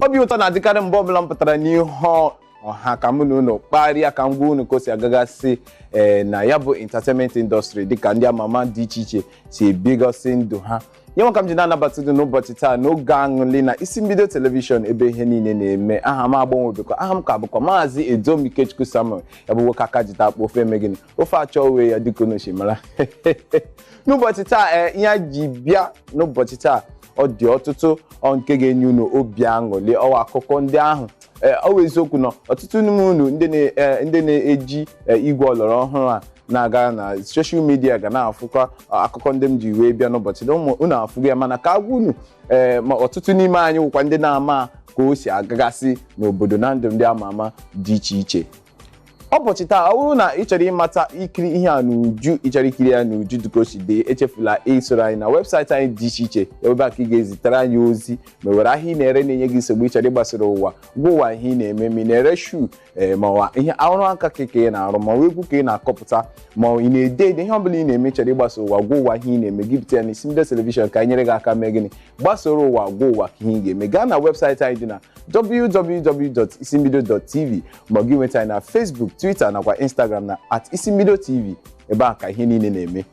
obi ụtọ na-adịkarị mgbe ọbụla m pụtara n'ihu ọha ka mụ na unu kparịa ka m gwa unu ka o si agagasị ee na ya bụ entertainment industry dịka ndị ama ama dị iche iche si ebigasị ndụ ha ya nwa ka m ji na-anabata unu n'ụbọchị taa n'oge aṅụli na isi mbido telivishọn ebe ihe niile na-eme aha m agbanwebekwa aha m ka bụkwa maazị Edom Ikechukwu Samuel ya bụ nwoke aka jita akpụ ofe eme gịnị ofe achọ onwe ya dịka unu si mara n'ụbọchị taa ee ihe anyị ji bịa n'ụbọchị taa ọ dị ọtụtụ ọ nke ga-enye unu obi aṅụrị ọwa akụkọ ndị ahụ ee ọ bụ eziokwu na ọtụtụ n'ime unu ndị na- ee, ndị na-eji ee, igwe ọlọrọ ọhụrụ a na-aga na soshal midia ga na-afụkwa akụkọ ndị m ji wee bịa n'ụbọchị na ụmụ unu afụgo ya mana ka a gwa unu ee ma ọtụtụ n'ime anyị wụkwa ndị na-ama ka o si agagasị n'obodo na ndụ ndị ama ama dị iche iche ụbọchị taa ọ bụrụ na ị chọrọ ịmata ikiri ihe a n'uju ị chọrọ ikiri ya n'uju dịka o si dị echefula isoro anyị na webụsaịtị anyị dị iche iche ebe a ka ị ga-ezitere anyị ozi ma i nwere ahịa ị na-ere na-enye gị nsogbu ị chọrọ ịgbasara ụwa gwa ụwa ihe ị na-eme ma ị na-ere shuu ee ma ọwa ihe ọrụ aka ka ka ị na-arụ ma ọwa egwu ka ị na-akụpụta ma ị na-ede ede ihe ọbụla ị na-eme ị chọrọ ịgbasa ụwa gwa ụwa ihe ị na-eme gị bute ya na isi mbido telivishọn ka anyị nyere gị aka mee gịnị gbasoro ụwa gwa ụwa ka ihe ị ga-eme gaa na webụsaịtị anyị dị na www.isimbido.tv ma gị nweta anyị na Facebook Twitter nakwa Instagram na at isi mbido tv ebe a ka ihe niile na-eme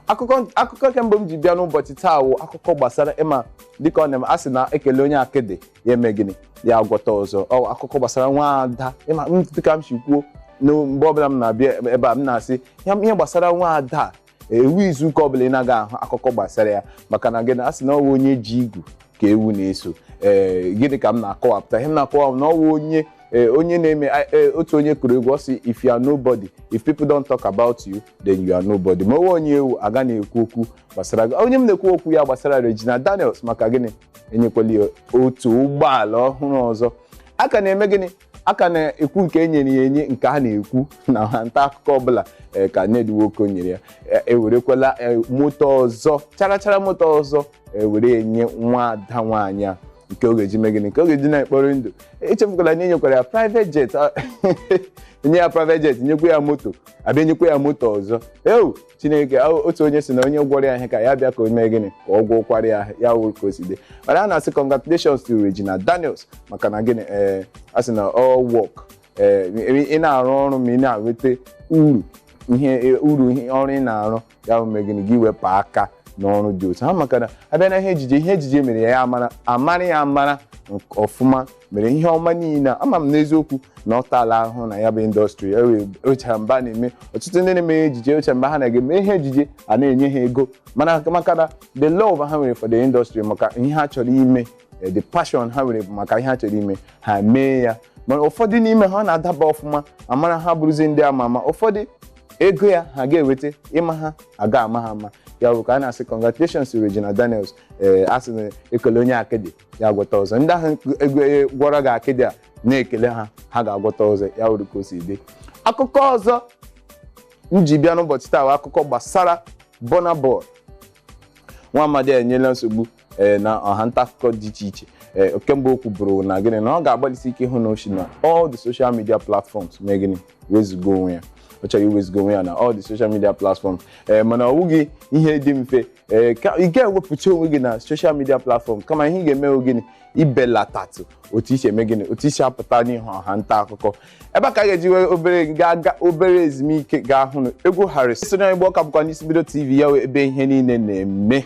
akụkọ akụkọ nke mbụ m ji bịa n'ụbọchị taa wụ akụkọ gbasara ịma dịka ọ na-eme a sị na ekele onye akịdị ya eme gịnị ya agwọta ọzọ ọ wụ akụkọ gbasara nwa ada ịma m dịka m si kwuo na mgbe ọbụla m na-abịa ebe a m na-asị ya ihe gbasara nwa ada ewu izu ụka ọbụla ị na-aga ahụ akụkọ gbasara ya maka na gịnị a sị na ọwa onye ji igu ka ewu na-eso ee gịnị ka m na-akọwapụta ihe m na-akọwa na ọwa onye ee onye na-eme ee otu onye kụrụ egwu ọ sị if you are nobody if people don't talk about you then you are nobody ma ọwa onye ị wụ a ga na-ekwu okwu gbasara gị onye m na-ekwu okwu ya gbasara Regina Daniels maka gịnị enyekwala ya otu ụgbọala ọhụrụ ọzọ a ka na-eme gịnị a ka na-ekwu nke e nyere ya enye nke a na-ekwu na nta akụkọ ọbụla eh, ka Ned Nwoko nyere ya Eh, ewerekwala eh, moto ọzọ charachara moto ọzọ ewere ya nye nwa ada nwaanyị a nke ọ ga-eji mee gịnị nke ọ ga-eji na-ekpori ndụ echefukwala na enyekwara ya private jet ah, enye ya private jet nyekwa ya moto abịa nyekwa ya moto ọzọ ewo chineke o- otu onye si na onye gwọrọ ya ihe ka ya bịa ka o mee gịnị ka ọ gwọkwara ya ya wụrụ ka o si dị mana a na-asị congratulations to Regina Daniels maka na gịnị ee a sị na all work ee ị na-arụ ọrụ ma ị na-enweta uru ihe uru ihe ọrụ ị na-arụ ya bụ mee gịnị gị wepụ aka n'ọrụ dị otu ahụ maka na abịa na ihe ejije ihe ejije mere ya ya amara amara ya amara nke ọfụma mere ihe ọma niile a. ama m n'eziokwu na ọ taala ahụhụ na ya bụ indọstrị ocha mba na-eme ọtụtụ ndị na-eme ejije ocha mba ha na-eme ihe ejije a na-enye ha ego mana maka na the love ha nwere for the industry maka ihe ha chọrọ ime eh, the passion ha nwere bụ maka ihe ha chọrọ ime ha mee ya mana ụfọdụ n'ime ha ọ na-adaba ọfụma amara ha bụrụzi ndị ama ama ụfọdụ ego ya ha ga-eweta ịma ha aga ama ha ama ya bụ ka a na-asị congratulations to Regina Daniels ee a sị na e kelee onye akịdị ya agwọta ọzọ ndị ahụ ego gwọrọ gị akịdị a na-ekele ha ha ga-agwọta ọzọ ya wụrụ ka o si dị akụkọ ọzọ m ji bịa n'ụbọchị taa bụ akụkọ gbasara Burna Boy nwa amadi enyela nsogbu ee na ọha nta akụkọ dị iche iche ee kemgbe o kwuburu na gịnị na ọ ga-agbalịsi ike ịhụ na o si na all the social media platforms mee gịnị wezụga onwe ya ọ chọrọ iwezụga onwe ya na all the social media platforms ee mana ọ wụghị ihe dị mfe ee ka ị ga-ewepụta onwe gị na social media platform kama ihe ị ga-eme wụ gịnị ibelatatụ otu i si eme gịnị otu i si apụta n'ihu ọha nta akụkọ ebe a ka a ga-eji wee obere ga-aga obere ezumike ga-ahụ na egwu Harrysong Igbo ọ ka bụkwa n'Isi Mbido TV ya wụ ebe ihe niile na-eme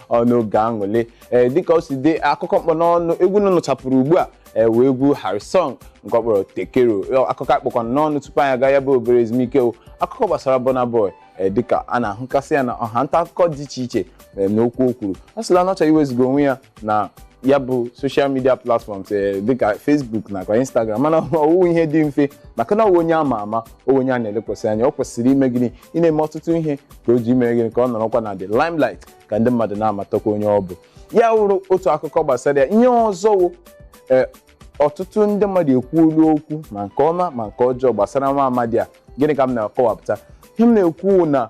ọnụ oge aṅụle ee dịka o si dị akụkọ m kpụ n'ọnụ egwu unu nụchapụrụ ugbu a ee wụ egwu Harrysong nke ọ kpọrọ Tekero akụkọ a kpụkwa n'ọnụ tupu anyị aga ya bụ obere ezumike wụ akụkọ gbasara Burna Boy ee, dịka a na-ahụkasị ya na ọha nta akụkọ dị iche iche ee, n'okwu o kwuru ọ sịla na ọ chọrọ iwezụga onwe ya na ya bụ social media platforms ee, dịka Facebook nakwa Instagram mana ọ wụghị ihe dị mfe maka na ọ wụ onye a ma ama ọ wụ onye a na-elekwasị anya o kwesịrị ime gịnị ịna-eme ọtụtụ ihe ka o ji ime gịnị ka ọ nọrọkwa na the limelight ka ndị mmadụ na-amatakwa onye ọ bụ ya wụrụ otu akụkọ gbasara ya ihe ọzọ wụ ee, ọtụtụ ndị mmadụ ekwuola okwu ma nke ọma ma nke ọjọọ gbasara nwa amadi a gịnị ka m na-akọwapụta ihe m na-ekwu wụ na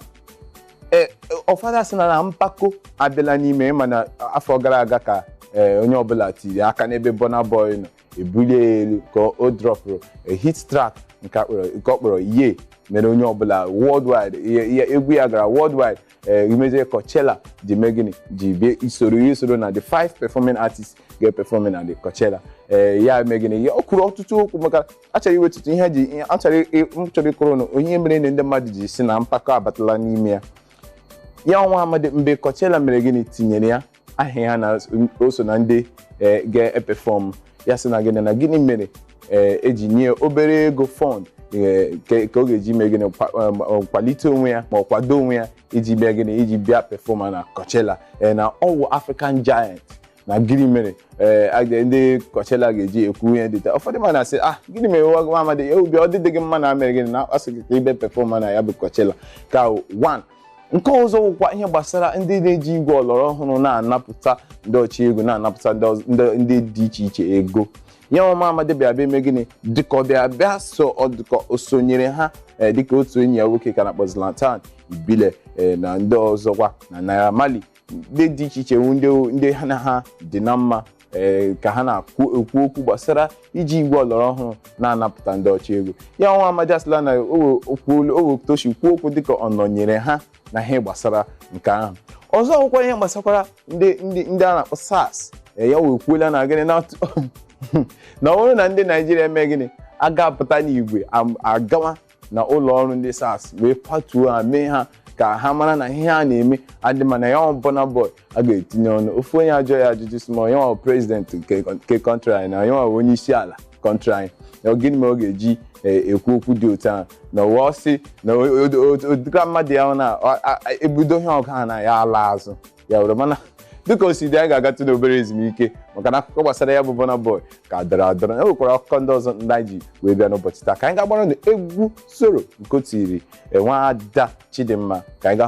ee ụfọdụ sị na na mpako abịala n'ime ị ma na afọ gara aga ka ee, onye ọbụla tiri aka n'ebe Burna Boy nọ ebulie ya elu ka o dropụrụ a hit track nke a kpọrọ- nke ọ kpọrọ Ye mere onye ọbụla worldwide ya- ya- egwu ya gara worldwide ee mezie Coachella ji mee gịnị ji bịa isoro ya isoro na the five performing artists ga-eperform na the Coachella ee ya mee gịnị ya o kwuru ọtụtụ okwu maka achọrọ iwetụtụ ihe ji ihe- achọrọ ị- m chọrọ ịkọrọ unu ihe mere na ndị mmadụ ji sị na mpako abatala n'ime ya ya wụ nwa amadi mgbe Coachella mere gịnị tinyere ya aha ya na o so na ndị eh, ga-eperform ya sị na gịnị na gịnị mere eh, e ji nye obere ego fund eh, ke- ka ọ ga-eji mee gịnị kwa- em, ọ kwalite onwe ya ma ọ kwado onwe ya iji bịa gịnị iji bịa perform na Coachella eh, na ọ wụ African Giant na gịnị mere eh, a ga- ndị Coachella ga-eji ekwu ihe dị otu a ụfọdụ mmadụ na-asị ah gịnị mere nwa nwa amadi ya obi ọ dịghị gị mma na e mere gịnị na a sị gị ka ị bịa perform na ya bụ Coachella ka one nke ọzọ wụkwa ihe gbasara ndị na-eji igwe ọlọrọ ọhụrụ na-anapụta ndị ọcha ego na-anapụta ndị dị iche iche ego ya ọ nwa amadi bịa bịa eme gịnị dịka ọ bịa bịa so ọ dịka o sonyere ha eh, dịka otu enyi ya nwoke ka a na-akpọ Zlatan Ibile eh, na ndị ọzọkwa na Naira Marley ndị dị iche iche ndị ndị ha na ha dị na mma ee ka ha na-ekwu ekwu okwu gbasara iji igwe ọlọrọ ọhụrụ na-anapụta ndị ọcha ego ya nwa amadi asịla na o toshi kwuo okwu dịka ọ nọnyere ha na ihe gbasara nke ahụ ọzọ o kwukwara ihe gbasakwara ndị ndị ndị a na-akpọ SARS ee, ya wee kwuola na gịnị na na ọ bụrụ na ndị Naijiria eme gịnị agapụta n'igwe am- agawa na ụlọ ọrụ ndị SARS wee patuo ha mee ha ka ha mara na ihe ha na-eme adịghị mma na ya ọ Burna Boy a ga-etinye ọnụ ofu onye ajụọ ya ajụjụ sị ma ya ọ prezidenti nke nke kọntrị anyị na ya ọ onye isi ala kọntrị anyị na ọ gịnị mere ọ ga-eji eh, ekwu okwu dị otu ahụ na ụwa ọ sị na ọ dịka mmadụ ya ọ na a- a- ebudo ihe ọgụ ha na ya ala azụ ya were mana dịka o si dị anyị ga-agatụ n'obere ezumike maka na akụkọ gbasara ya bụ Burna Boy ka dọrọ adọrọ e nwekwara akụkọ ndị ọzọ ndị anyị ji wee bịa n'ụbọchị taa ka anyị ga-agbara unu egwu soro nke o tiri nwaada Chidimma ka anyị ga